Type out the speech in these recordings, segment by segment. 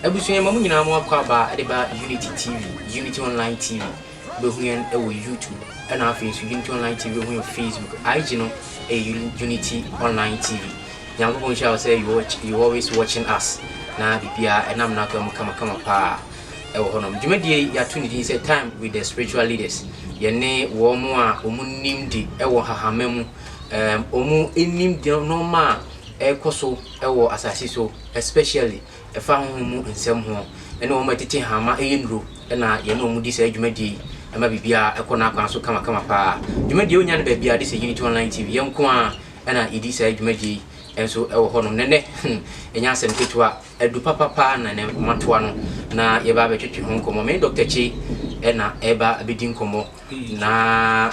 Abusua ma mo nyinaa mo akɔ aba de ba Unity TV, Unity Online TV. Wobɛhu yɛn wɔ YouTube ɛna afei nso Unity Online TV wobɛhu yɛn Facebook. IG no ɛyɛ Unity Online TV. Nyankopɔn nhyira wo sɛ you always watching us na biribiara ɛnam n'akwan mu kamakama paa. wɔ hɔnom. Dwumadie yi yɛato ne din sɛ Time with the Spiritual Leaders. Yɛne wɔn a wɔn nim de wɔ hahama mu, wɔn nim de nneɛma a ɛrekɔ so wɔ asase so especially ɛfa honhom mu nsɛm ho ne wɔn a ɛtete hama ɛyɛ nnuro na yɛne wɔn di saa dwumadie yi ɛma biribiara ɛkɔ n'akwan so kamakama paa. Dwumadie wonya no baabiara de sɛ Unity Online TV yɛn nko ara ɛna yɛdi saa dwumadie yi nso ɛwɔ hɔnom. Nɛnɛ hmm ɛnyɛ asɛm ketewa. Adu papa paa na ɛnɛ matoa no na yɛba abɛtwetwe ho nkɔmmɔ. Me ne Doctor Kyei na ɛreba abɛdi nkɔmmɔ na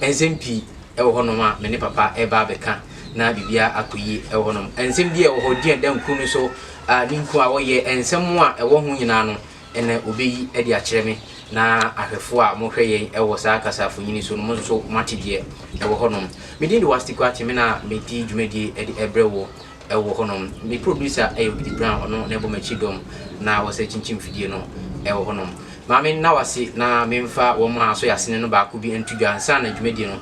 nsɛm pii wɔ hɔnom a me ne papa reba abɛka na biribiara akɔ yie wɔ hɔnom. Nsɛm bi a ɛwɔ hɔ din a ɛda nkuro no so a ne nku a wɔyɛ nsɛm a ɛwɔ ho nyinaa no ɛnɛ wɔbɛyi de akyerɛ me na ahwɛfoɔ a mohwɛ yɛn wɔ saa kasafonini so no mo nso moate deɛ ɛwɔ hɔnom. Me din de Wasti Kwakye me na medi dwumadie de brɛ wo Ɛwɔ hɔ nom. Me producer yɛ Obidi Brown, ɔno na ɛbɔ m'akyi dɔm na ɔsɛ kyinkyin mfidie no ɛwɔ hɔ nom. Maame nna wase na menfa wɔn a asɔ yasene no baako bi nto dwa ansa na dwumadie no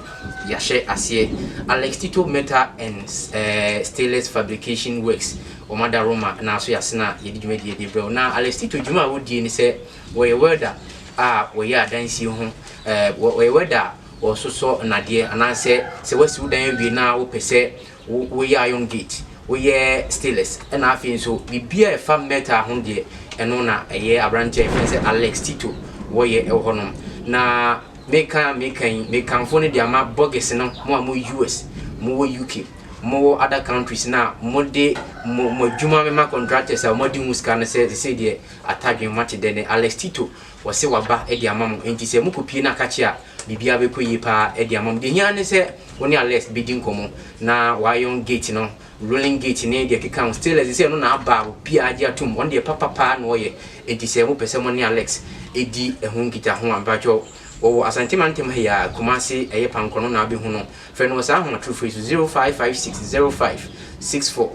yahyɛ aseɛ. Alex Tito Metal and Stainless Fabrication Works, wɔn ada Roma na asɔ yasene a yɛde dwumadie de brɛ wo. Na Alex Tito dwuma a wɔdie ne sɛ wɔyɛ welder a wɔyɛ adansie ho, wɔyɛ welder a wɔsosɔ nnadeɛ anaasɛ sɛ wasi wo dan awie na wopɛ sɛ Wo woyɛ Iron Gate, woyɛ Steelers ɛna afei nso biribiara ɛfa metal ho deɛ ɛno na ɛyɛ abranteɛ a yɛfrɛ no sɛ Alex Tito wɔyɛ ɛwɔ hɔ nom. Na meka a meka yi mekamfo no de ama Bɔgis no mo a mo wɔ US, mo wɔ UK, mo wɔ other countries no a mo de mo mo adwuma bɛma contractors a wɔn adi ho sika no sɛ sɛsɛi deɛ Atadwen moate dɛ nɛ Alex Tito Wɔse waba de ama mo enti sɛ mokɔ pie no a ka kye a biribiara bɛkɔ yie paa de ama mo. Deɛ ɛhia ara ne sɛ wo ne Alest bɛdi nkɔmmɔ na w'ayɔn gate no, rolling gate ne deɛ ɛkeka ho. Stainless de sɛ ɛno na aba a obiara agye atom, ɔno deɛ papa paa na ɔyɛ enti sɛ mopɛ sɛ mo ne Alex di ɛho nkitaho a mpakyɛw wɔwɔ Asante mantam ha yi ara, Kumase, ɛyɛ Pankɔ no na wobɛhu no. Frɛ no wɔ saa ahomatorofo yi so, 0556 05 64.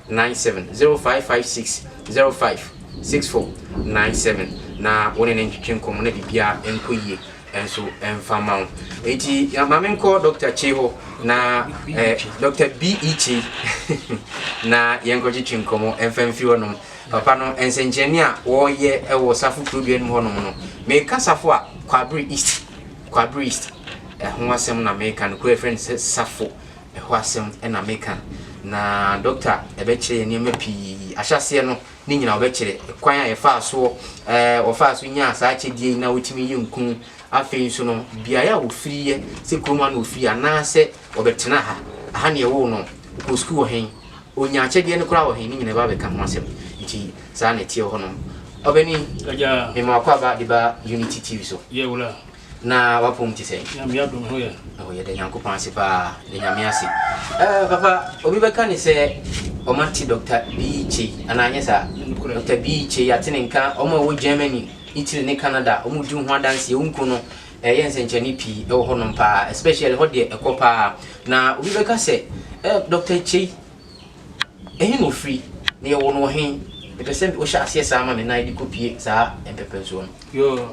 97 0556 05 64 97 na wo ne no ntwetwe nkɔmmɔ na biribiara nkɔ yie nso mfa mma wo. Enti ya- ma menkɔ Dr. Chei hɔ na eh, Dr. B.E. Chei na yɛnkɔtwetwe nkɔmmɔ mfa mfiri hɔnom. Papa no nsɛnkyerɛnne a wɔreyɛ wɔ Safo kuro dua no mu hɔnom no, meka Safo a, Kwabere East, Kwabere East ɛho asɛm na meka no, kuro a yɛfrɛ no sɛ Safo. Ɛhɔ asɛm na meka. Na dɔkta bɛkyerɛ yɛn nneɛma pii. Ahyɛaseɛ no, ne nyinaa ɔbɛkyerɛ. Kwan a yɛfaa soɔ, wɔfaa so nyaa saa akyɛdeɛ yi na wɔtumi yɛ nkuu. Afei nso no, beaeɛ a wɔfiriiɛ, sɛ kurom ha na wɔfiri anaasɛ wɔbɛtena ha, aha na yɛwoo no, ɔkɔɔ sukuu wɔ he, ɔnyaa akyɛdeɛ no koraa wɔ he, ne nyinaa ɛbaa bɛka ho asɛm. Nti saa na ɛteɛ wɔ hɔnom. Ɔbani, mema w'akwaaba de ba Unity TV so. Yɛ wura. Na wapɔm te sɛn? Nyame adom ho yɛn. Oh yɛda Nyankopɔn ase paa da Nyame ase eh papa obi bɛka ne sɛ ɔma nte Doctor Bii Kyei anaa anyɛ saa Doctor Bii Kyei ate ne nka ɔmo a ɛwɔ Germany Italy ne Canada ɔmo di ho adanseɛ wo nko no ɛyɛ nsɛnkyerɛnne pii ɛwɔ hɔ nom paa especially hɔ deɛ ɛkɔ paa na obi bɛka sɛ eh Doctor Kyei ɛhe na ofiri na yɛwɔ no wɔ he mepɛ sɛ wohyɛ aseɛ saa ma me na yɛde kɔ pie saa mpɛpɛnsoɔ no.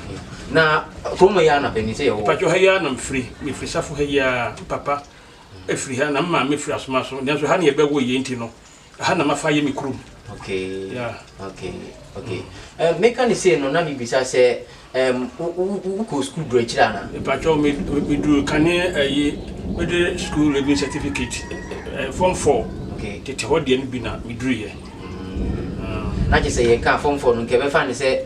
na kurom yɛ anapa ni sɛ yɛwɔ. Mpatsɔ ha yi ara na mfiri mefiri safo ha yi ara mpapa efiri ha na mmaa mefiri asoma so nanso ha na yɛbɛwo yɛ nti no ha na mafa yɛ me kurom. Okay. Yeah. Okay. Okay. Mm. Uh, eh, meka ne sei no na mebisa sɛ um, wokɔ sukuu duru akyiri ana? Mpatsɔ meduru kane ayi eh, mede sukuu leaving certificate uh, form four okay. tete hɔ deɛ no bi na meduruyɛ. Mm. Uh. na kyɛ sɛ yɛka form four no nkɛbɛfa ne sɛ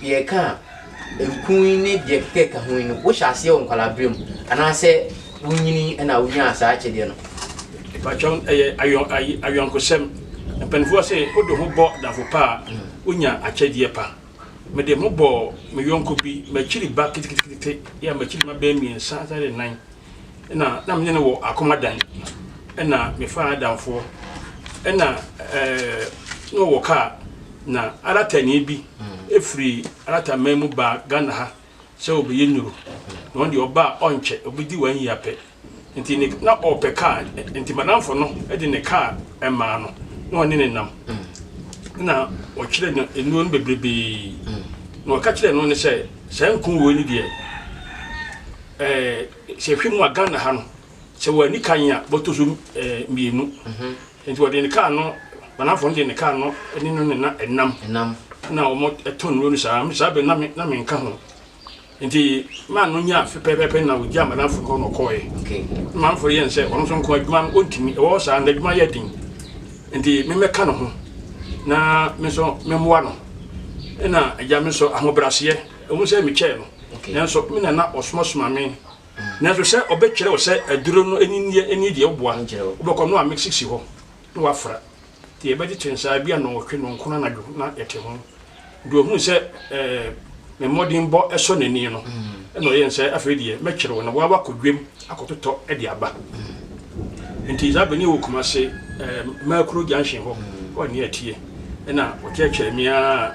Deɛ ɛka nkuu yi ne deɛ ɛkeka ɛka ho yi no, wohyɛ aseɛ wɔ nkwalaaberɛ mu anaasɛ wonyini na wonyaa saa akyɛdeɛ no? Mpakyɛw ɛyɛ ayɔn ayi ayɔnkosɛm. Mpanimfoɔ se wode ho bɔ adamfo pa a, wonya akyɛdeɛ pa. Mede me ho bɔɔ me yɔnko bi, m'akyiri ba ketekete, yɛ a m'akyiri mma bɛyɛ mmiɛnsa ansa ne nan. Nna na menye no wɔ akomadan. Nna mefaa n'adamfoɔ. Nna na ɔwɔ kaa. Na Aratani bi firi Arataman mu baa Ghana ha sɛ ɔbɛyɛ nnuro. Na ɔno deɛ ɔba a ɔnkyɛ, ɔbɛdi wo ayi apɛ. Nti ne na ɔrepɛ kaa. Nti m'adamfo no de ne kaa maa no na ɔne no nam. Nna ɔkyerɛ no nnuro no bebrebee. Na ɔka kyerɛɛ no ne sɛ, saa nku wei no deɛ. Ɛɛ sɛ hwɛ mu a Ghana ha no sɛ wɔanni kan a bɔtɔ so mmienu nti wɔde ne kaa no banafo no de ne kaa no ne no ne na ɛnam na wɔn tɔn nnuro no saa saa bɛ na me na me nka ho nti maa no nya afe pɛpɛpɛ na wɔgya banafo hɔ na ɔkɔɔɛ na manfo yɛn sɛ ɔno nso nko adwuma no ɔntumi ɛwɔ saa na adwuma yɛ den nti memɛka no ho na me nso memmoa no ɛna agya me nso ahobrɛaseɛ Ɛwom sɛ mekyɛɛ no, nanso me na na ɔsomasoma me. Nanso sɛ ɔbɛkyerɛ wo sɛ aduro no ani nneɛ ani deɛ woboa, wobɛkɔ no a mixi si hɔ na wafra. Nti yɛbɛgye kyensaa ebia nnɔnwɔtwe nnɔnkron anadwo na yɛte ho. Deɛ ɔhunu sɛ me mmɔdenbɔ sɔ n'ani no na ɔyɛ nsɛ, afei deɛ mɛkyere wo na woa woakɔ dwam akɔtotɔ de aba. Nti saa bere no yɛwɔ Kumase Makuro Junction hɔ, hɔ a nea ɛteɛ na ɔkyerɛkyerɛɛ me ara.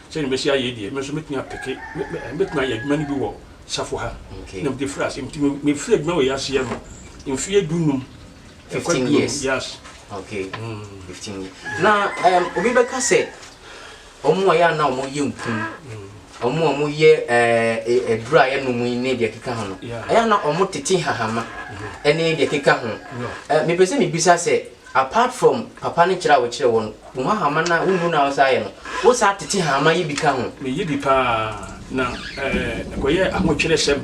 Sɛnea masi ayɛ yi deɛ, me nso mɛtumi apeke, mɛtumi ayɛ adwuma no bi wɔ safo ha. Na mede firi ase. Nti mefiri adwuma wei ase yɛ no, mfeɛ du nnum. Fifteen years. Yes. Okay. Mm. Fifteen years. Yeah. Na um, obi bɛka sɛ wɔn a yɛ a na wɔyɛ nkum wɔn mm. a wɔyɛ eh, aduru a yɛnom yi ne deɛ ɛkeka ho no ɛyɛ a na wɔtete hahama mm-hmm. ne deɛ ɛkeka ho eh, mepɛ sɛ mebisa sɛ Apart from papa ne kyerɛ a wokyerɛ wɔ no, wo hahama no a wonhu no a wosan yɛ no, wo san tete hahama yi bi ka ho. Me yi bi paa na ɛkɔ yɛ ahokyerɛ sɛm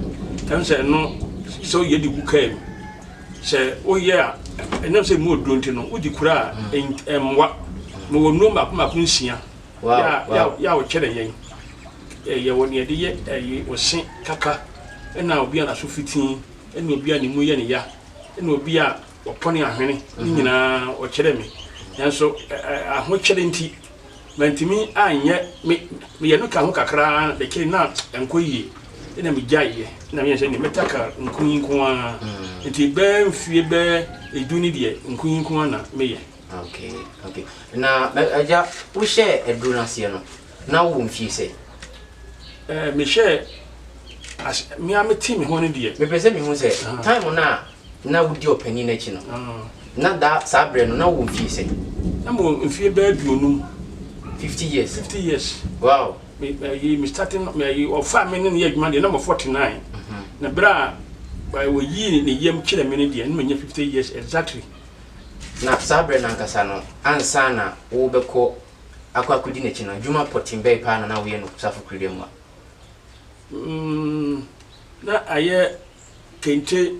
ɛm sɛ ɛno sɛ wo yɛ de gu kaa mu sɛ wo yɛ a ɛnam sɛ mu oduro nti no wo di kura a ɛmmoa me wɔ nuro mako mako nsia yɛ a wokyerɛ yɛn yɛ wɔ neɛ de yɛ ɛyi wo se kaka ɛna obi a naso fitii ɛna obi a ne mu yɛ ne ya ɛna obi a Ɔpɔ ne ahwene no nyinaa ɔkyerɛ me, nanso ahokyere nti mantumi anyɛ. Meyɛ no kaa ho kakra ara na akyire na ɛnkɔ yie, ɛnna megyaeɛ. Ɛnna meyɛ sɛ deɛ mɛta kaa nku yi nko ara, nti bɛyɛ mfeɛ bɛyɛ edu ne deɛ nku yi nko ara na meyɛ. Okay, okay. Na agya, wohyɛɛ aduro no aseɛ no, na wowɔ mfie sɛ? Eh, mehyɛɛ as mea mete me ho no deɛ. Mepɛ sɛ mehu sɛ ah. time no a na wodi ɔpanin no akyi no, ah. na da saa berɛ no na wowɔ mfie sɛ? Na mewɔ mfie bɛɛ aduonum. 50 years. 50 years. Wow. Me me me starting me ɔfa me ne ne yɛ adwuma deɛ na mɔ 49. Mhm. Na berɛ a wɔyii ne yam kyerɛ me no deɛ na manya 50 years exactly. Na saa berɛ no ankasa no, ansa na worebɛkɔ akɔ akɔdi n'akyi no, adwuma pɔtee bɛn paa na na woyɛ no safokuruda mu a? Mm, na ayɛ kente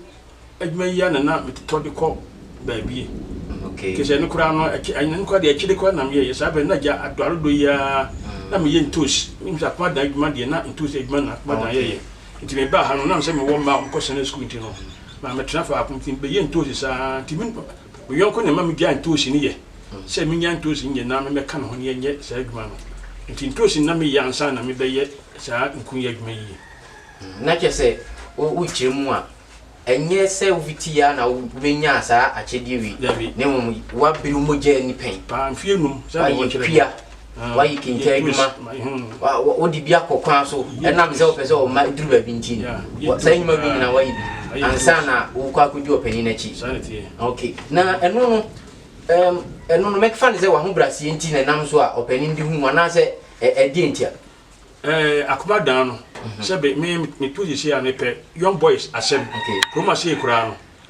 adwuma yi ara na na metotɔ de kɔ baabi. Mm, okay. Te sɛ no koraa no, akyi, ɛno koraa deɛ akyire koraa na meyɛeɛ. Saa berɛ no, na agya adɔ arodɔ yi ara mm. na meyɛ ntoos. Menim sɛ akoma adwuma deɛ na ntoos adwuma na akoma dan yɛyɛ. Nti mebaa ha no, nam sɛ mewɔ mma a wɔkɔ Sunday school nti no, Na metena faako nti mebɛyɛ ntoosi saa nti me yɔnko na ɛma megyaa ntoosi no yɛ sɛ menya ntoosi nyɛ na memmɛka ne ho ne ɛnyɛ saa adwuma no nti ntoosi na meyɛ ansa na mebɛyɛ saa nku yɛ adwuma yie. Hmm, na kyerɛ sɛ wokyerɛ mu a ɛnyɛ sɛ wofiti yɛ na wobɛnyaa saa akyɛdeɛ wei na mmom woabere mogya ani pɛn paa mfie num sɛ wɔkyerɛ pia wayi kente adwuma wode bi akɔ kwan so ɛnam sɛ wopɛ sɛ ɔma duru baabi nti no saa nnwuma bi nyina wayi bi ansa na wokɔ akɔdi ɔpanyin no akyi ok na ɛno no ɛno no mɛfa ne sɛ waho braseɛ nti na ɛnam so a ɔpanyin de hu anaasɛ ɛdeɛ nti a akoma daa no mhm. sɛ me metu sisi a mepɛ young boys asɛm kurom ase koraa no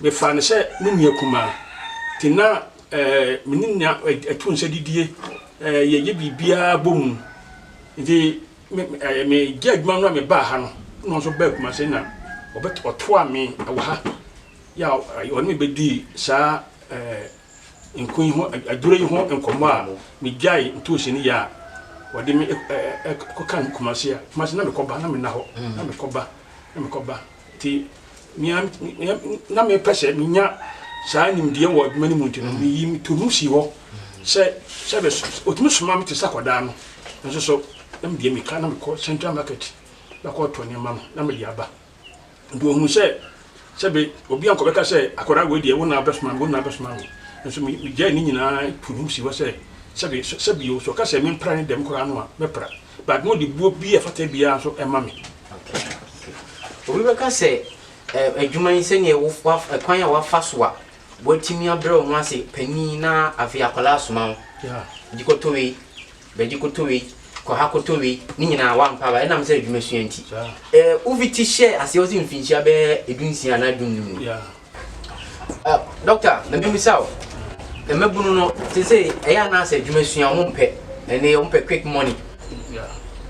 Mefaa no sɛ me nua kumaa, nti na me ne no tu nsa didie, yɛyɛ biribiara bɔ mu. Nti megye adwuma no a mebaa ha no, ɛna ɔno nso baa Kumasi na ɔtoaa me wɔ ha. Yɛ a ɔne me bɛdii saa nku yi ho, aduro yi ho nkɔmmɔ a megyae ntoosi no yɛ a ɔde me kɔka Kumasi a, Kumasi na mekɔba, na menna hɔ, na mekɔba, na mekɔba. Nti nea na mepɛ sɛ menya saa nimdeɛ wɔ adwuma no mu nti no, mm. meyi me tonu si hɔ sɛ sɛ ɔtumi soma me te sɛ akwadaa no nso so na medeɛ meka na mekɔ central market bɛkɔtɔ nneɛma no na mede aba nti ɔhu sɛ sɛbe obi ankɔbɛka sɛ akwadaa wei deɛ wo na bɛsoma me wo na bɛsoma me nso megyae ne nyinaa tonu si hɔ sɛ sɛbe sɛbio so ɔka sɛ mempra ne dɛm koraa no a mɛpra But na ɔde buo bi a ɛfata biara nso ma me. Okay, okay. Obi bɛka sɛ eh, adwuma yi sɛdeɛ wo, wa, kwan a wafa so a watumi abrɛ wo ho ase panin na afei akwadaa asoma wo. Yeah. Di kɔtɔ wei, bɛdi kɔtɔ wei, kɔ ha kɔtɔ wei, ne nyinaa wampa aba ɛnam sɛ adwuma sua nti. Yeah. Eh, Uviti hyɛɛ aseɛ wɔ sɛ mfinhyia bɛyɛ edunsia anaa dunnum no. Yeah. Ah, doctor, na me misa o. Na me bunu no, te se ɛyɛ anaasɛ adwuma sua wɔn pɛ. Ɛne wɔn pɛ quick money.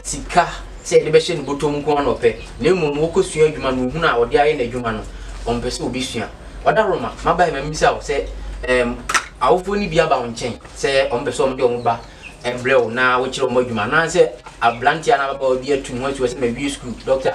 Sika sɛ yɛde bɛhyɛ no bɔtɔ mu nko na ɔpɛ. Na mmom wɔkɔ sua adwuma no ohun a ɔde ayɛ n'adwuma no, wɔn pɛ sɛ obi sua. Ɔda Roma, maba ma misa o sɛ ɛɛm awofoɔ no bi aba wɔn nkyɛn sɛ wɔn pɛ sɛ wɔn de wɔn ba ɛbrɛ o na wɔkyerɛ wɔn adwuma anaasɛ abranteɛ anaa ababaawa bi atu mu asuo sɛ ma wie sukuu. Doctor,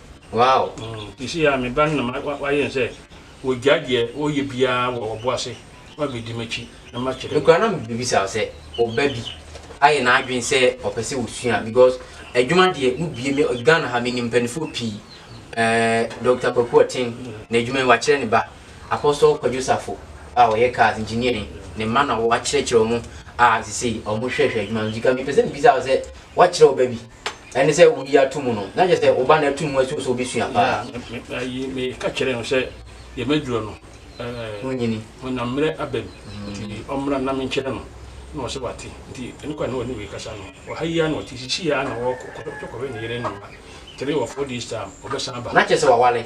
Wow! Seesei ara me ba no na wayɛ no sɛ wagyae deɛ ɔreyɛ biara wɔ ɔbo ase na wabɛdi m'akyi na makyerɛ no. Me koraa na mebɛbisa wo sɛ wo ba bi ayɛ n'adwene sɛ ɔpɛ sɛ ɔsua because adwuma deɛ wobie me Ghana ha menim mpaninfoɔ pii eh, Doctor Kwaku Ɔten n'adwuma yi wakyerɛ ne ba Apostle Kwadwo Safo a ɔyɛ cars engineer yi ne mma na wakyerɛkyerɛ wɔn a seesei wɔhwɛhwɛ adwuma no nti ka mepɛ sɛ mebisa wo sɛ woakyerɛ wo ba bi? ɛne sɛ wodi ato mu no na kyerɛ sɛ wo ba no ato mu asuo sɛ wobɛsua paa meka kyerɛ no sɛ deɛ maduro no wonyini ɔnam mmerɛ aba mu mm. nti ɔmmra na menkyerɛ no na ɔsɛ wate nti ɛne kwa na ɔne wei kasa no ɔha yi a na ɔte sisi a na ɔkɔkɔhwɛ ne yere no ma three or four days time ɔbɛsan ba na kyerɛ sɛ wawale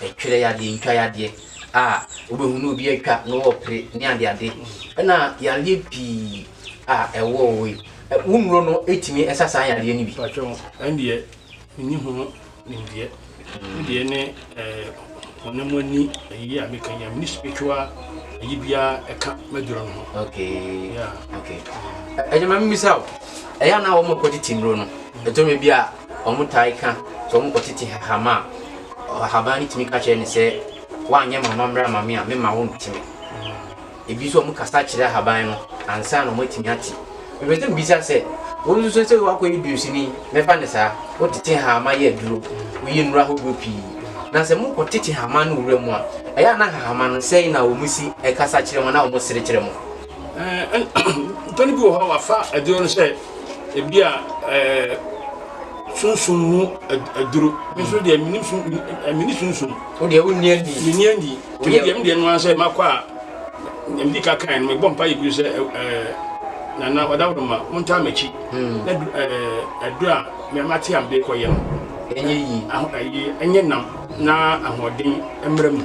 Ɛtwerɛ yadeɛ, ntwa yadeɛ a wobɛhu na obi atwa na wɔrepere ne adeade ɛna yareɛ pii a ɛwɔ hɔ yi, wo nnuro no tumi sa saa yareɛ no bi? Patwɛ ho, ɛn deɛ menni ho nimdeɛ. Me deɛ ne honam ani ayi a meka yi a menni spiritual ayi biara ɛka m'aduro no ho. Okay. Yeah. Okay. Ɛgyama mmisa o, ɛyɛ a na wɔn kɔgye ti nnuro no, ɛtɔ bi a Wɔtaa ka sɛ wɔkɔtete hama a, ɔhaban no tumi ka kyerɛ no sɛ, Woanyɛ m'amammerɛ amma me a, memma wonte me. Ebi nso wɔkasa kyerɛ ahaban no ansa na wɔatumi ate. Mepɛ sɛ mibisa sɛ, Wo nso sɛ sɛ woakɔyɛ dunsini, mɛfa no saa, wotete hama yɛ aduro, woyɛ nnuro ahodoɔ pii, na sɛ mokɔtete hama no wura mu a, ɛyɛ a na hahama no sɛn na wɔsi kasa kyerɛ mo anaa wɔsere kyerɛ mo? Mpɛn bi wɔ hɔ a wɔafa aduro no sɛ. Ebia eh, sunsum mu aduro. Me nso deɛ menim sun eh, meni sunsum. Wo deɛ wonni ani. Meni ani. Wo deɛ me deɛ no ara sɛ makɔ a medi ka kan no mebɔ mpa yɛ bio sɛ eh, nana ɔdaworo ma montaa m'akyi hmm. na eh, aduro a mate a mede kɔyɛ no ɛnyɛ yi ɛnyɛ nam na ahoɔden mmra mu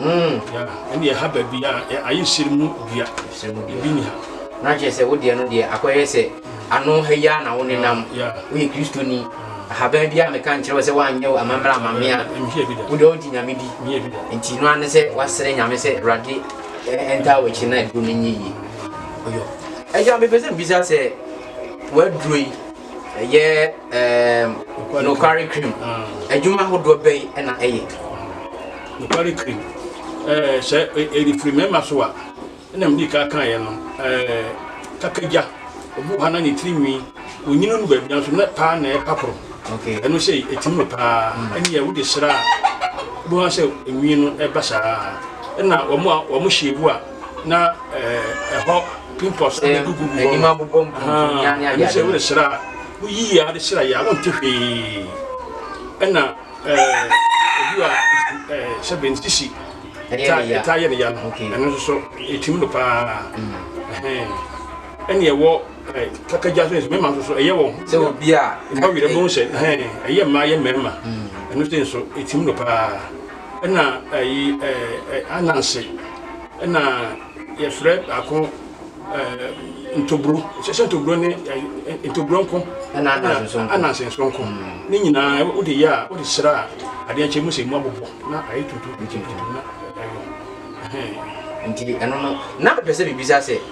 Mm, yeah. Ɛne ɛha baabi a ayɛ hyɛn mu dua. Hyɛn mu dua. Ebi ni ha. Na kyerɛ sɛ wo deɛ no deɛ akɔyɛ sɛ ano ha yi a na wo nenam. Woyɛ Kristoni. Ahaban bi a meka nkyerɛ wo sɛ woanyɛ wo amammerɛ amame a wo deɛ wogye Nyame di. Nti no ane sɛ woasrɛ Nyame sɛ Awurade ɛntaa w'akyi na aduro no nyɛ yie. Ɔyɔ. Agya, mepɛ sɛ mbisa sɛ w'aduro yi Ɛyɛ ɛɛ nokware cream. Adwuma ahodoɔ bɛyi ɛna ɛyɛ. Nokware cream. Ɛɛ sɛ ɛde firi mmarima so a, ɛna mdi kan kan yɛ no. Ɛɛ kakagya, obi wɔ ha na ne tiri nwi, onyini no baabi nanso na paa na ɛpa koro. Okay. Ɛno sɛ ɛtim no paa. Mm. Ɛne yɛ wode sra a, wobɛhu sɛ nwi no ɛba saa. Ɛna wɔn a wɔn hyɛ ebu a na ɛhɔ pimples agugu hɔ anim abobɔ mpuntu ne ade ade sɛ woresra a woyi yɛ ade sra yɛ a wonte hwee ɛna obi a sɛ bɛn sisi ɛtaa yɛ ne ya no ɛno nso so ɛtim no paa ɛne ɛwɔ kakagya so mmarima nso so ɛyɛ wɔn sɛ obi a ɛbɔ werɛ bɛhu sɛ ɛyɛ mmaa yɛ mmarima ɛno sɛ nso ɛtim no paa Ɛna ayi ɛɛ ananse. Ɛna yɛfrɛ baako ɛɛ ntoburo. Sɛ ntoburo ne ntoburo nko. Ɛna ananse nso nko. Ananse nso nko. Ne nyinaa wode yɛ a wode sra a adeɛ nkyɛ mu sɛ mu abobɔ na ayɛ tuntum tuntum na ɛyɛ. Nti ɛno no na mepɛ sɛ mebisa sɛ.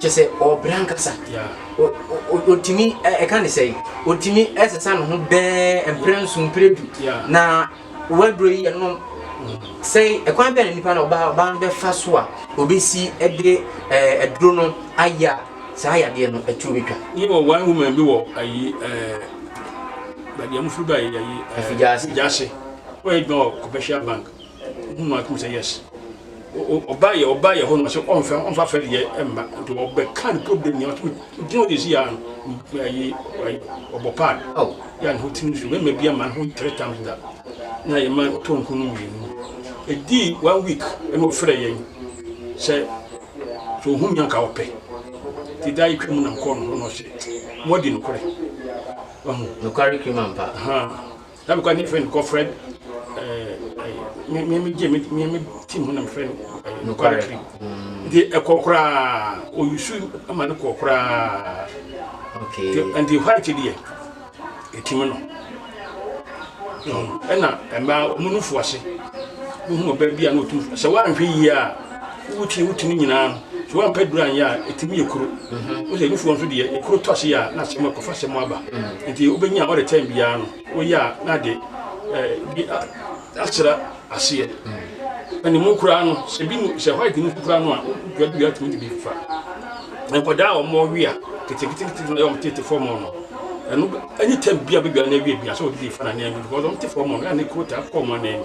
kyɛ sɛ ɔɔbrɛ ankasa ɔtumi ɛka ne sɛe ɔtumi ɛsesa ne ho bɛɛ mprɛ nso mprɛ du na waduro yi ɛno sɛe ɛkwan bɛɛ na nipa na ɔbaa ɔbaa no bɛfa so a ɔbɛsi ɛde aduro no ayɛ a saa yadeɛ no ɛtuo bɛtwa ne wɔ one woman bi wɔ ayi baabi a mofiri ba ayi afigyase ɔyɛ adwuma wɔ commercial bank Ohun no atum sɛ yes ɔbaa yɛ ɔbaa yɛ hɔ no sɛ ɔnfɛ ɔnfa fɛ deɛ ɛmma nti ɔbɛka ne problem nyɛ ɔtumi gyina ɔde si ano ayi ɔbɔ paad aw yɛ ne ho tiri nsu mɛma bi ama ne ho three times da na yɛ ma ɔtɔ nko no mmienu ɛdi one week ɛna ɔfrɛ yɛn sɛ sɛ ɔhu nyanka ɔpɛ ti da yɛtwa mu nam kɔɔ no ho na ɔsɛ mɔdi nokorɛ nokware kiri ma mpa Na mekɔ ne friend kɔ friend ɛɛ me me gye me me me team ho na me friend ɛɛ nokware kiri nti ɛkɔ koraa oyusu ama ne kɔ koraa okay nti white deɛ ɛtim no ɛna mmaa wɔn no fo ase wohu ɔbaa bi a na ɔtum sɛ woanhwɛ yie a Wotwi wo ti no nyinaa no, sɛ woampɛ duru anyɛ a, etumi yɛ kuru. Wo sɛ nufoɔ nso deɛ, ne kuru tɔ ase a, na asɛm akɔ fa asɛm aba. Nti wobɛnya a, ɔde tɛn biara no, woyɛ a, na ade bi asra aseɛ. Na ne mu koraa no, sɛ bi mu, sɛ white no koraa no a, wodua dua tumi de bi fa. Nkwadaa a wɔn wea ketekete na wɔn tete fam no, ɛno anytime bi a bɛdua no awie bia sɛ wɔde bi fa na nneɛma bi, because wɔn te fam no, ɛna ne kuro taa kɔ wɔn anan mu.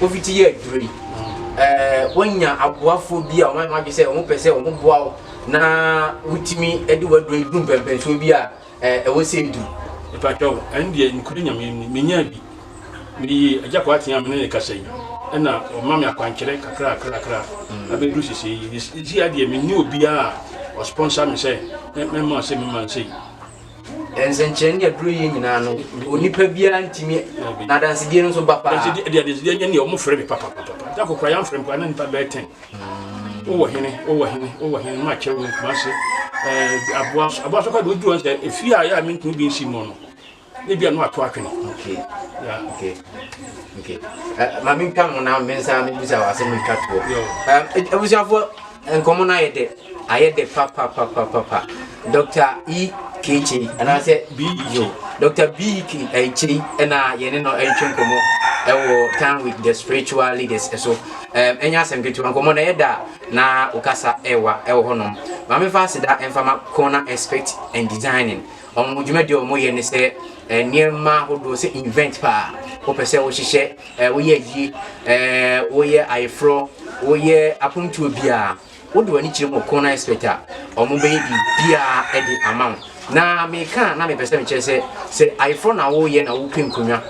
Wofiti yɛ aduru yi, ɛɛ wonya aboafoɔ bi a wɔn adwene sɛ wɔn pɛ sɛ wɔn boa wo na wotumi de waduro yi du mpɛmpɛnsoɔ bi a ɛɛ ɛwɔ sɛ edu. Mpakyɛw, ɛn deɛ nukuri nyame ni, menya bi. Meyii Agya Kwarteng a me ne ne kasa yi, ɛna ɔma me akwankyerɛ kakrakrakra abɛduru sesei yi. Sesei ara deɛ menni obiara a ɔsponsor me sɛ mɛma ɔse memma nsei. nsɛnkyerɛnne a duro yɛ nyinaa no onipa biara ntumi na adansedie no nso ba paa deɛ adansedie nyɛ neɛ ɔmo frɛ me papapapa da kokora yɛamfrɛ mpo ana nipa bɛyɛ tɛn wowɔ hene wowɔ hene wowɔ hene ma akyɛ wo kuma se aboa so aboa so kɔ de wodu wɔn sɛ efie a yɛ a mentumi bi nsi mu no ne bi a no ato atwene ma mentwa ho na mensa mebisa wɔ asɛm metwa toɔ abusuafoɔ Nkɔmmɔ no ayɛ dɛ, ayɛ dɛ papapapapa. Dɔkta E. K. Kyei anaasɛ BEO. Dɔkta B. K. Eh, Kyei na yɛne no retwe nkɔmmɔ wɔ Time with the Spiritual Leaders so. Um, ɛnyɛ asɛm ketewa, nkɔmmɔ no ɛyɛ da na wokasa ɛwa ɛwɔ hɔnom. Maame fa aseda ɛmfama kɔn na expect and designing. Wɔn dwumadi a wɔyɛ ne sɛ eh, nneɛma ahodoɔ sɛ invent paa wopɛ sɛ wohyehyɛ eh, woyɛ ayie eh, woyɛ ayeforɔ woyɛ apontuo biara wode w'ani kyerɛ mu ɔkɔn na expect a wɔn bɛyɛ biribiara de ama wo na meka na mepɛ sɛ mekyerɛ sɛ sɛ ayeforɔ na woyɛ na wopɛ nkonnwa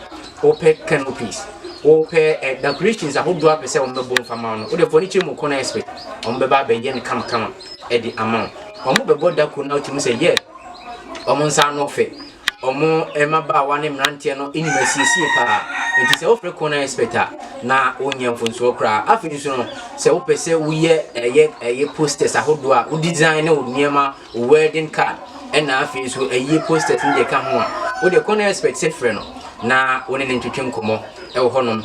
wopɛ canopies wopɛ eh, decorations ahodoɔ apɛ sɛ wɔn bɛbɔ mfa ma wo no wode fo ani kyerɛ mu ɔkɔn na expect wɔn bɛba abɛyɛ no kamakama de ama wo wɔn bɛbɔ dako na wotumi sɛ yɛ yeah, wɔn nsa ano fɛ wɔn mmabaawa ne mmeranteɛ no nim asiesie paa nti sɛ wofrɛ kɔn expert a na wonyɛ mfonsoɔ koraa afei nso no sɛ wopɛ sɛ woyɛ ɛyɛ ɛyɛ posters ahodoɔ a wo design ne wo nneɛma wo wedding card ɛna afei nso ɛyɛ posters ne deɛ ka ho a wode kɔn expert sɛ frɛ no na wo ne ne ntwetwe nkɔmmɔ ɛwɔ hɔnom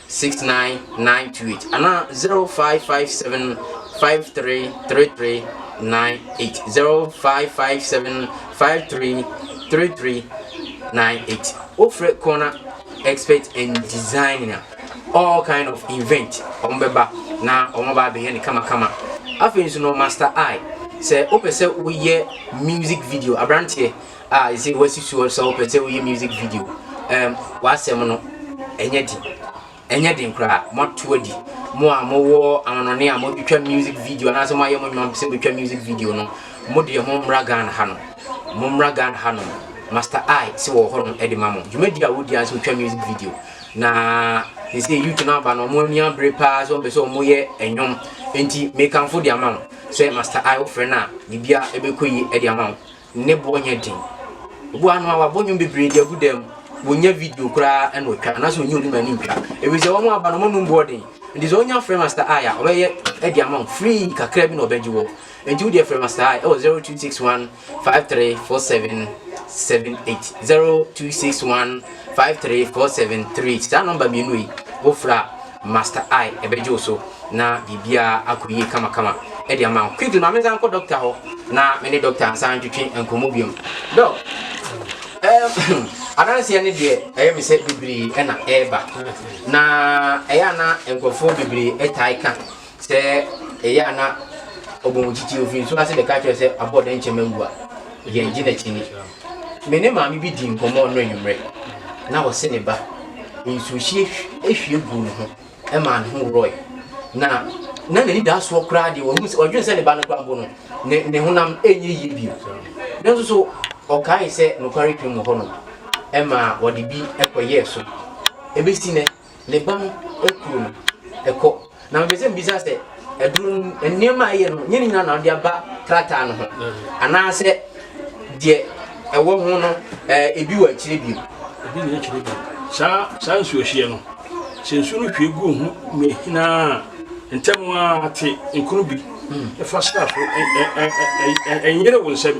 six nine nine two eight anaa zero five five seven five three three three nine eight zero five five seven five three three three nine eight wofrɛ corner expert and designer all kind of event wɔn bɛba na wɔn ba abɛyɛ ne kamakama afei nso no master eye sɛ wopɛ sɛ woyɛ music video aberanteɛ a ɛsɛ wasusu sɛ wopɛ sɛ woyɛ music video um, w'asɛm no ɛnyɛ den ɛnyɛ den koraa moato adi mo a mowɔ anonɔne a mobɛtwa music video anaasɛ moayɛ mo nnwuma sɛ bɛtwa music video no mo deɛ mommra ghana ha no mommra ghana ha no master i sɛ wɔ hɔ no ɛde ma mo dwumadi a wodi a sɛ wotwa music video na sɛ youth no aba no ɔmo ani abere paa sɛ ɔmpɛ sɛ ɔmo yɛ ɛnwom nti mekamfo de ama wo sɛ master i wofrɛ no a biribia ɛbɛkɔ yi de ama wo ne boɔ nyɛ den. Ebu ano a wabɔ nnwom bebree de agu dan mu. Wɔnya video koraa ɛna ɔtwa anaasɛ ɔnyi obi ma ne ntwa. Ebi sɛ wɔn aba no wɔn num boɔ den. Nti sɛ ɔnya frɛ Master I a ɔbɛyɛ ɛde ama wɔn free kakra bi na ɔbɛgye wɔ. Nti wo deɛ frɛ Master I ɛwɔ 0261 534778 0261 534738 saa nɔmba mmienu yi wofra Master I ɛbɛgye wo so na biribiara akɔ yie kamakama de ama wo. Quickly, ma me nsan nkɔ dɔkta hɔ na me ne dɔkta nsan ntwetwe nkɔmmɔ biom. Dɔk, ɛɛm, adanseɛ no deɛ ɛyɛ me sɛ bebree ɛna ɛreba. Na ɛyɛ a na nkurɔfoɔ bebree ɛtae ka Sɛ ɛyɛ a na ɔbɔ wo titi, ɔfiri nsuo ase bɛka kyerɛ wo sɛ abɔ dɛn nkyɛ mawu a, yɛn gye n'akyi ni. Me ne maame bi dii nkɔmmɔ ɔno anwummerɛ na ɔse ne ba nsuohyie hwie guu ne ho maa ne ho worɔe na na n'ani da soɔ koraa deɛ ɔhu sɛ ɔdwene sɛ ne ba no kora mpo no ne, ne honam ɛnyɛ yie bio nanso so ɔkae sɛ nokware twam wɔ hɔ no ɛma wɔde bi ɛkɔyɛɛ so ɛbɛsi nɛ ne ba no kuro no ɛkɔ na mepɛ sɛ mbisa sɛ ɛduru nneɛma a ɛyɛ no nyɛ ne nyinaa na ɔde aba krataa no ho anaasɛ deɛ ɛwɔ ho no ɛɛ ebi wɔ akyire bio. ebi nyɛ akyire bio saa saa nsuohyeɛ no sɛ nsuo no hwie gu ho mmehinaa ntɛm ara te nkono bi fa sra so ɛnyere wo nsam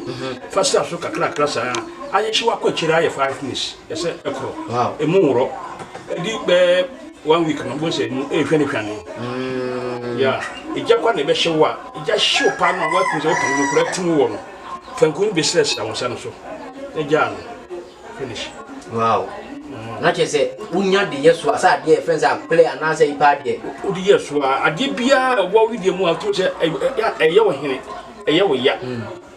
fa sra so kakrakra saa ayɛ hyew akɔ akyire ayɛ five minutes. Ɛhyɛ ɛkoro emu worɔ ɛdi bɛɛ one week no bɔn sɛ mu ɛhwɛ ne hwane mm. ya ɛgya kwa na ɛbɛhyɛ wo a ɛgya hyew paa no a woakum sɛ woka no kora tim wɔ no fanku no bɛsira sira wo nsa no so na gyaa no finish wow mm. na kyerɛ sɛ wonya de yɛ soa sɛ adeɛ ɛfrɛ sɛ aplɛ anaasɛ yipa adeɛ wode yɛ soa adeɛ biaa ɛwɔ wedeɛ mu a wotum sɛ ɛyɛ wo hene ɛyɛ wo ya mm.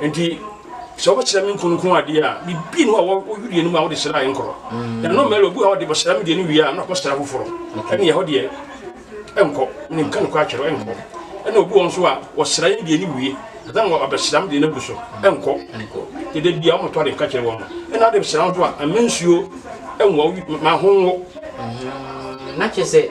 Enti sɛ wɔbɛkyerɛ me nkonkron adeɛ a, biribi nni hɔ a wɔyurie no mu a wode hyerɛ a ɛnkɔrɔ. Na ɛno mmɛlɛ obi a wɔde bɛhyerɛ me deɛ no wie a na ɔkɔ hyerɛ afoforɔ. Ɛne ɛhɔ deɛ ɛnkɔ, ne nka no kɔ atwerɛ ɛnkɔ. Ɛna obi wɔn nso a wɔhyerɛ yɛn deɛ no wie, ɛsɛ na wɔabɛhyerɛ me deɛ no agu so ɛnkɔ. Dede bia wɔmɔtɔ ade nka kyerɛ wɔn. Ɛna ade bɛhyerɛ nso a, ɛmɛ nsuo ɛnwɔ, ma ho nwo. Na kyerɛ sɛ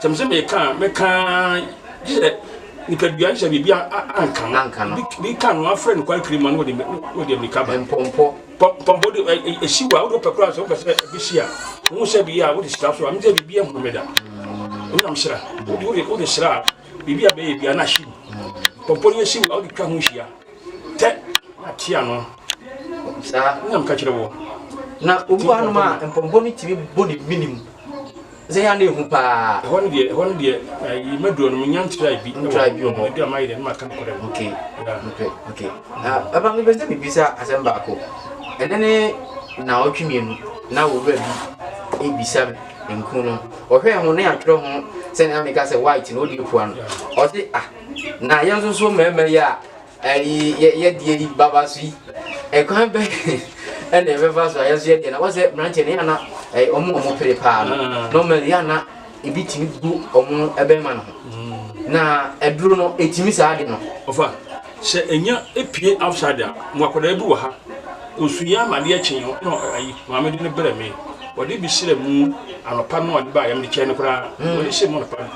Sɛ mese meka a, meka ara gye sɛ nipadua nhyɛ biribi a anka no. Anka no. Bi ka no afrɛ no kwan twiri mu a na wɔde mmirika ba. Mpɔmpɔ. Mpɔmpɔ de ɛhyi wa, wode wopɛ koraa sɛ wopɛ sɛ bi hyi a, wohu sɛ bi a wode hyira so a, ɛno sɛ biribi ahunu me da. Wonyam hyira. Wode hyira a, biribi a bɛyɛ bi a na ahyi mu. Mpɔmpɔ no yɛhyi wa, wode twa ho hyia. Tɛ na te ano. Saa na meka kyerɛ wɔ. Na obi wɔ hanom a mpɔmpɔ no tumi bɔ ne menim. Sɛ yɛ na ehu paa. Ɛhɔ no deɛ ɛhɔ no deɛ ayi mɛduro no menya ntira bi. Ntira bi wɔ hɔ. Ɛdi ama yɛ deɛ maka no kɔrɛ. Okay. Okay. Okay. Na ɛba mi bɛsɛ mi bisa asɛm baako. Ɛnɛ ne na ɔtwe mmienu na owura bi ebisa nkunu no. Ɔhwɛ ho ne atwerɛ ho sɛ na meka sɛ white na odi pua no. Ɔsi ah. Na yɛn nso so mmarima yi a ɛyi yɛ yɛ deɛ yi baba so yi ɛkwan bɛ ɛna ɛbɛfa so a yɛn nso yɛ deɛ na wɔsɛ mmeranteɛ no yɛ ana ɛyɛ wɔn wɔn pere paa no ah. normal yɛ ana ebi tumi gu wɔn ɛbɛrima no ho hmm. na ɛduro no etumi saa de no. ɔfa sɛ enya epie outside a mo akwadaa bi wɔ ha osu yɛ ama adeɛ kyen yɛn na ayi maame de ne brɛ mi wɔde bi srɛ mu anɔpa no ɔde ba yɛm de kyɛn no koraa hmm. wɔde hyɛ mu anɔpa no.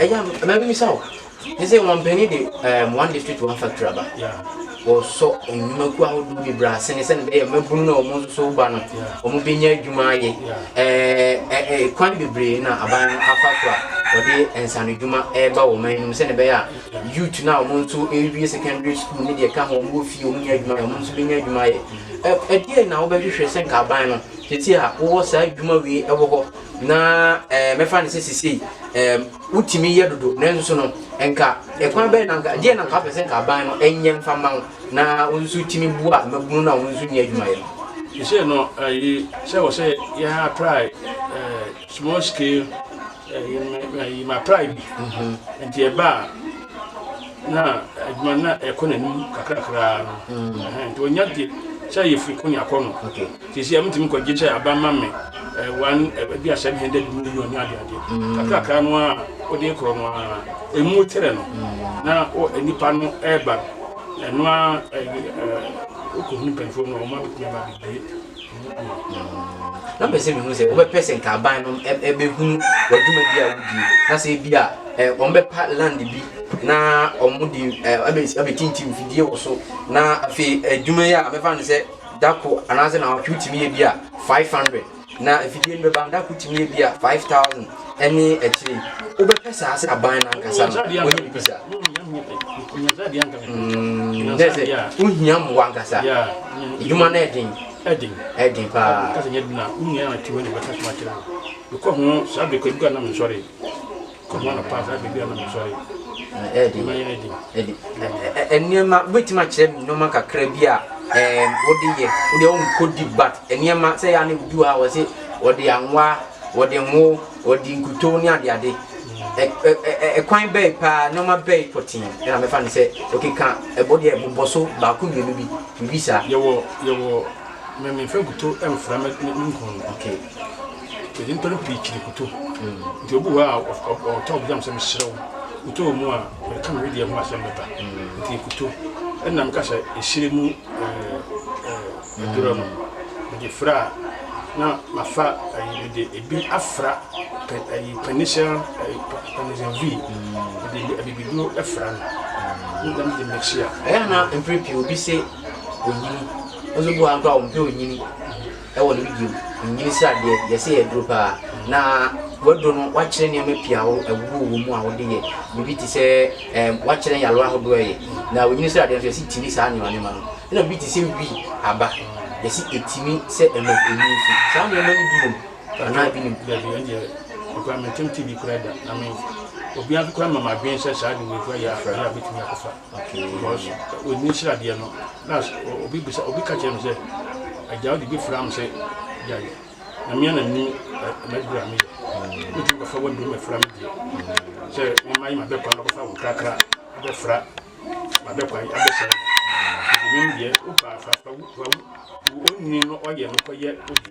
ɛyɛ a mɛbɛmisa wo ne sɛ wɔmpɛne de um, one district one factory aba wɔsɔ nnwumakuo ahodoɔ bebree ase ne sɛne bɛyɛ mabunu no a wɔn nso so ba no wɔn bɛnya adwuma ayɛ ɛɛ kwan bebree na aban no afa so a wɔde nsanodwuma ɛreba wɔn man nom sɛne bɛyɛ a youth no a wɔn nso ɛrewie secondary school ne deɛ ka ho wɔn wɔ fie wɔn nya adwuma ayɛ wɔn nso bɛnya adwuma ayɛ ɛdeɛ na wobɛhwehwɛ sɛ nka aban no tete a wowɔ saa adwuma wei ɛwɔ hɔ Na ɛɛ mɛfa no sɛ sisei ɛɛ wotumi yɛ dodo nanso no nka ɛkwan bɛyɛ na nka deɛ na nka apɛ sɛ nka aban no ɛnyɛ nfa ma wo na wo nso tumi boa mmabunu no a wɔn nso nyɛ adwuma yɛ no. Sisei no ɛyi sɛ wɔ sɛ yɛ apply ɛɛ small scale ɛyi ma apply bi mhm. nti ɛba a na adwuma na ɛkɔ n'anim kakrakra no mhm. nti wɔnya deɛ sɛ yɛfiri ko ne akɔ no. Seesei a mitumi kɔ gye sɛ aba ma me one ebi a seven hundred million ne adeade kakrakra no ara a wode rekɔ no ara emu tere no na nnipa no reba no ɛno ara wokɔhunu mpanyinfoɔ no wɔn abɛtumi aba abɛbie na mpɛ sɛ mehu sɛ wobɛpɛ sɛ nka aban no ɛbɛhunu w'adwuma bi a wodi na sɛ bi a wɔbɛpa land bi na wɔde abɛtintim fidie wɔ so na afei adwuma yi a mɛfa no sɛ da kor anaadze naawɔtwe wotumi yɛ bi a five hundred na efidie no bɛba no da kor tumi yɛ bi a five thousand ɛne akyire yi wobɛpɛ saa sɛ aban no ankasa no wɔnyɛ biribi saa mm, dɛ sɛ wohia mmoa ankasa adwuma no ɛden ɛden paa Kɔma no pass ade bi a na mo sɔre. Ɛdi. Ma yɛn adi. Ɛdi. Nneɛma wobɛtumi akyerɛ me nneɛma kakra bi a ɛɛm wode yɛ wode a wonkɔ deep but nneɛma sɛ yɛ a na ebi wɔ ha wɔ se wɔde anwa wɔde ngo wɔde nkuto ne ade ade ɛkwan bɛyi paa nneɛma bɛyi pɔtee ɛna mɛfa no sɛ ɔkeka ɛbɔ deɛ bobɔ so baako mmienu bi biribi saa yɛwɔ yɛwɔ mɛmɛfa nkuto mfra me nkɔn no okay Yɛde nnipa no pii kyiri koto. Nti obi wɔ hɔ a ɔf- ɔf- ɔtɔ ɔbɛgyam sɛ meserɛ wo. Koto wɔ mu a, mede ka me wedeɛ ho asɛm bɛba. Nti yɛkoto. Ɛnna meka sɛ, Ɛhyire mu eh, eh, adurɔ no, mede frɛ a, na mafa ayi, mede ebi afra pɛ, ayi, pernicial, ayi, pa- pernicial V. Mede abibiduro afra no. Na mede mixia. Ɛyɛ a na mprɛ pii obi se onyini. Ɔso bu a mpo a ɔmpɛ onyini. Ɛwɔ no bio, nnwene sradeɛ, yɛ sɛ yɛ duro paa. Na w'aduro no w'akyerɛ nneɛma pii a ɛwowɔ wɔ mu a wode yɛ. Biribi te sɛ ɛɛm w'akyerɛ nyarewa ahodoɔ a ɛyɛ. Na onnwene sradeɛ nso yɛsi tumi saa nneɛma nneɛma no. Ɛna biribi te sɛ wii aba, yɛsi ɛtumi sɛ ɛma ɛmu nsu. Saa nneɛma no bi wɔ mu anaa bi nim? Dabi, ɛndeɛ me koraa mentee bi koraa da. Na me obiara nso koraa mma m'adwene sɛ saa de wei koraa yɛ a ɛyɛ a bɛtumi akɔfa. Okay because when ne nhyira deɛ no na obi bisa obi ka kyerɛ no sɛ agya wode bi fra m sɛ gyae na mea na nim m'aduru a meyɛ wotumi kɔfa w'aduru ma fra me deɛ sɛ mema yi mabɛkwan bɛkɔfa wo krakra abɛfra mabɛkwan abɛsɛ menim deɛ wopa fafa wo ɔnni no ɔyɛ no kɔyɛ wodeɛ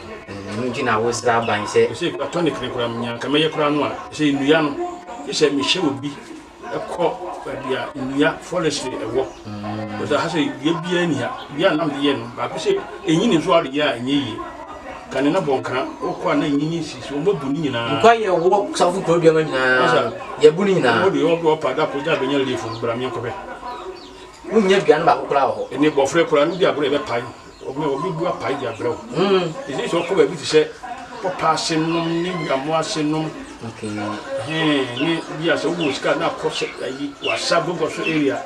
Ɛno nti na wosra aban sɛ. Ɛsɛ platonic no koraa mu nea anka mɛyɛ koraa no a, ɛsɛ nnua no, gye sɛ mehyɛ obi kɔ baabi a nnua forestry ɛwɔ. Because aha sɛ dua biara nni ha. Dua a na mede yɛ no, baako sɛ ɛnyini nso a wode yɛ a ɛnyɛ yie. Kane na bɔnkra wokɔ a na ɛnyini si so, wɔabu ne nyinaa. Nkwa yɛ wɔ safo kuro duama nyinaa, yɛabu ne nyinaa. Wɔde yɛ ɔdɔ ɔpa da kɔ gya bɛnya leaf no, bra meɛnkɔpɛ. Wonnya dua no baako koraa wɔ hɔ. Ɛne bɔfrɛ koraa no bi agorɔ yɛbɛpae. Obi bu apae de abrɛ wo. Ɛsɛ sɛ ɔkɔ baabi te sɛ pɔpa ase nom ne nwammo ase nom. Ne bi a sɛ wowɔ sika na akɔ sɛ ayi wasa bogɔ so area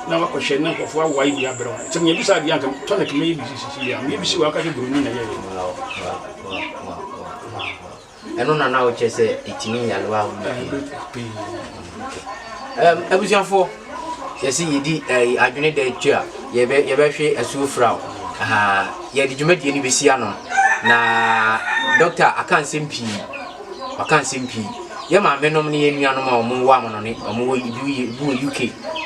na wakɔhyɛ ne nkɔfoɔ awae de abrɛ wo. Sɛ meyɛ bi saa deɛ anka tonic mɛyɛ bi sisisi a meyɛ bi si wɔ aka sɛ buroni na yɛyɛ. ɛno na na wokyɛ sɛ ɛtumi yalewa ahodoɔ pii abusuafoɔ yɛsɛ yɛdi adwene da akyi a yɛbɛhwe asuo fra wo yɛde dwumadie no bɛsi ano na dɔkta aka nsɛm pii ɔka nsɛm pii yɛ maamenom ne yɛ nuanom a wɔn wɔ amono ne wɔn wɔ ebi wɔ uk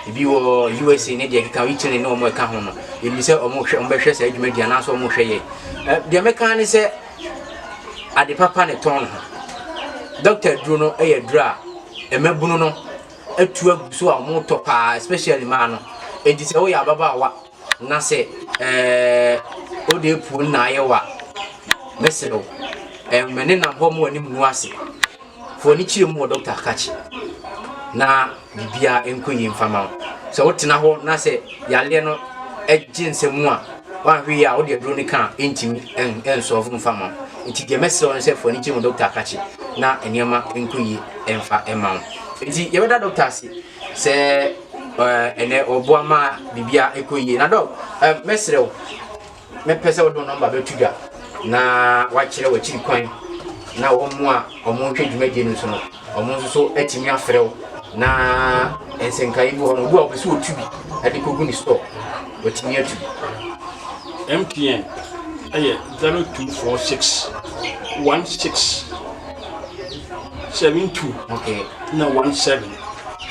ebi wɔ usa ne deɛ keka italy ne wɔn ɛka ho no yɛnim sɛ wɔn hwɛ wɔn bɛhwɛ saa adwuma di anaasɛ wɔn hwɛ yɛ deɛ mɛka ne sɛ ade papa na ɛtɔn no ho. Doctor aduro no yɛ aduro a mmabunu no atu agu so a wɔtɔ paa especially mmaa no. Enti sɛ woyɛ ababaawa na sɛ ɛɛ wode apuo no na ayɛ wa mɛsrɛ wo ɛmɛ ne nam hɔ mu anim no ase. Fa w'ani kyerɛ mu wɔ dɔkta akakye na biribiara nkɔ yie mfa ma wo. Sɛ wotena hɔ na sɛ yareɛ no gye nsɛm mu a, woanhwɛ yie a wode aduro no ka a ɛntumi nsɔɔfo mfa ma wo. Nti deɛ mɛsrɛ wo no sɛ fa w'ani kyerɛ mu dɔkta akakye na nneɛma nkɔ yie mfa ma wo. Nti yɛbɛda dɔkta ase sɛ ɛnɛ ɔboa ma biribiara ɛkɔ yie. Na dɔk, mɛsrɛ wo. mɛpɛ sɛ wode wo nɔmba bɛto dwa na woakyerɛ w'akyiri kwan na wɔn a wɔretwa dwumadie no nso no wɔn nso so atumi afrɛ wo na nsɛnkaeɛ bi hɔ no obi a wɔpɛ sɛ wɔtu bi de kɔgu ne store watumi atu bi MTN ɛyɛ 0246 16 72 okay. na 17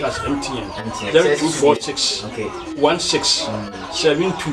that's MTN, MTN. 0246 okay. 16 72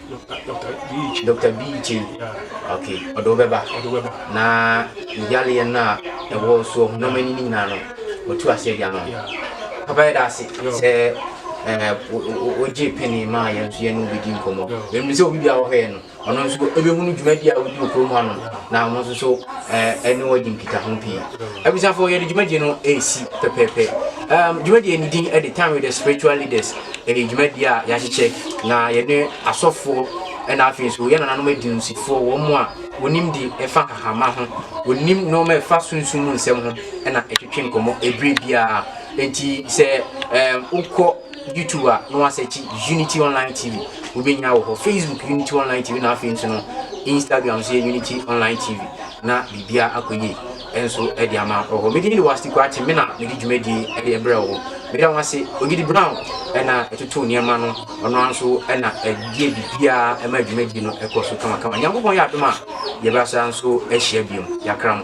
Doctor Biichi. Doctor Biichi. Yeah. Okay. Ɔde wo bɛba. Ɔde wo bɛba. Na yaleɛ no a ɛwɔ soɔ ho nneɛma ni ne nyinaa no ɔtu aseɛ de ama. Yeah. Papa yɛ da ase sɛ wogye eh, pene maa yɛn nso yɛne wobɛdi nkɔmmɔ. Ɛnim sɛ obi bia wɔhɔɛ no ɔno nso ɛbɛhunu dwumadi a wodi okurom ha no na ɔno nso so eh, ɛne wɔgye nkita ho pii. Abusuafoɔ yɛde dwumadi no ɛresi pɛpɛɛpɛ. Dwumadi no din ɛde time with the spiritual leaders ɛyɛ dwumadie a yɛahyehyɛ na yɛne asɔfoɔ ɛna afei nso yɛn nananom adinsifoɔ wɔn mu a wɔnim di ɛfa hahama ho wɔnim nneɛma ɛfa sunsun mu nsɛm ho ɛna ɛtwetwe nkɔmɔ ebire biara nti sɛ ɛɛm wokɔ youtube a na wasɛkyi unity online tv wobɛnya wɔ hɔ facebook unity online tv na afei nso no instagram nso yɛ unity online tv na biribiara akɔ yie nso de ama wɔ hɔ. Me din de Wasti Kwarteng, me na medi dwumadie de brɛ wo. Meda wo ase. Ogidi Brown na ɛtoto nneɛma no, ɔno ara nso na ɛdeɛ biribiara ɛma dwumadie no ɛkɔ so kamakama. Nyankopɔn yɛ adom a, yɛbɛasa nso ahyia biom. Yɛakram.